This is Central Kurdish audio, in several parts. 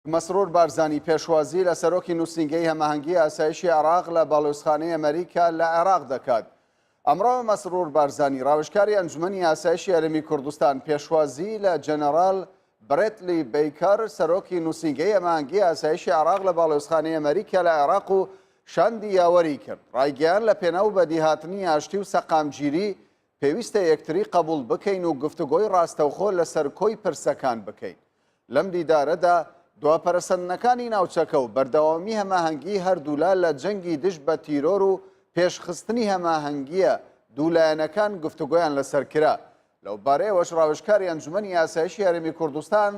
مەسرور بارزانی پێشوازی لە سەرۆکی نووسینگەی هەماهەنگی ئاسایشی عێراق لە باڵیۆزخانەی ئەمەریکا لە عێراق دەکات. ئەمڕۆ مەسرور بارزانی ڕاوشکاری ئەنجومەنی ئاسایشی هەرێمی کوردستان پێشوازی لە جەنەڕال برێتلی بیکەر سەرۆکی نووسینگەی هەماهەنگی ئاسایشی عێراق لە باڵیۆزخانەی ئەمەریکا لە عێراق و شاندی یاوەری کرد. ڕایگەیان لە پێناو بەدیهاتنی ئاشتی و سەقامگیری پێویستە یەکتری قەبوڵ بکەین و گفتوگۆی ڕاستەوخۆ لەسەر کۆی پرسەکان بکەین. لەم دیدارەدا دوا پەرەسەندنەکانی ناوچەکە و بەردەوامی هەماهەنگی هەردوولا لە جەنگی دژ بە تیرۆر و پێشخستنی هەماهەنگییە دوو لایەنەکان گفتوگۆیان لەسەر کرا. لەو بارەیەوەش ڕاوێژکاری ئەنجومەنی ئاسایشی هەرێمی کوردستان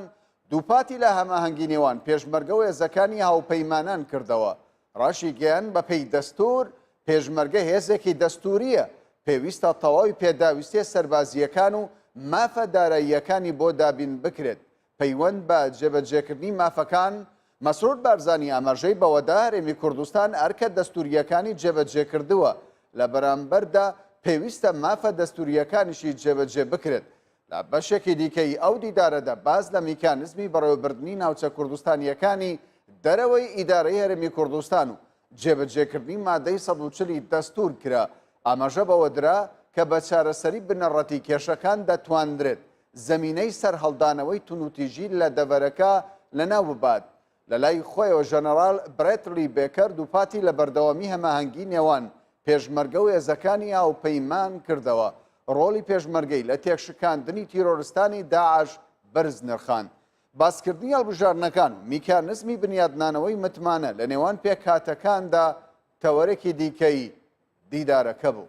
دووپاتی لە هەماهەنگی نێوان پێشمەرگە و هێزەکانی هاوپەیمانان کردەوە ڕاشیگەیاند، بەپێی دەستوور، پێشمەرگە هێزێکی دەستوورییە، پێویستە تەواوی پێداویستییە سەربازییەکان و مافە داراییەکانی بۆ دابین بکرێت، پەیوەند بە جێبەجێکردنی مافەکان، مەسرور بارزانی ئاماژەی بەوەدا، هەرێمی کوردستان ئەرکە دەستوورییەکانی جێبەجێکردووە، لە بەرامبەردا پێویستە مافە دەستوورییەکانیشی جێبەجێ بکرێت، لە بەشێکی دیکەی ئەو دیدارەدا باس لە میکانزمی بەڕێوەبردنی ناوچە کوردستانییەکانی دەرەوەی ئیدارەی هەرێمی کوردستان و جێبەجێکردنی مادەی سەد و چلی دەستوور کرا، ئاماژە بەوە درا کە بە چارەسەری بنەڕەتی کێشەکان دەتوانرێت زەمینەی سەرهەڵدانەوەی توندوتیژی لە دەڤەرەکە لەناو ببات لە لای خۆیەوە ژەنەڕال برێتلی بێکەر دووپاتی لە بەردەوامی هەماهەنگی نێوان پێشمەرگە و هێزەکانی هاوپەیمان کردەوە، ڕۆڵی پێشمەرگەی لە تێکشکاندنی تیرۆرستانی داعش بەرز نرخاند. باسکردنی هەڵبژاردنەکان و میکانزمی بنیادنانەوەی متمانە لە نێوان پێکهاتەکاندا تەوەرێکی دیکەی دیدارەکە بوو.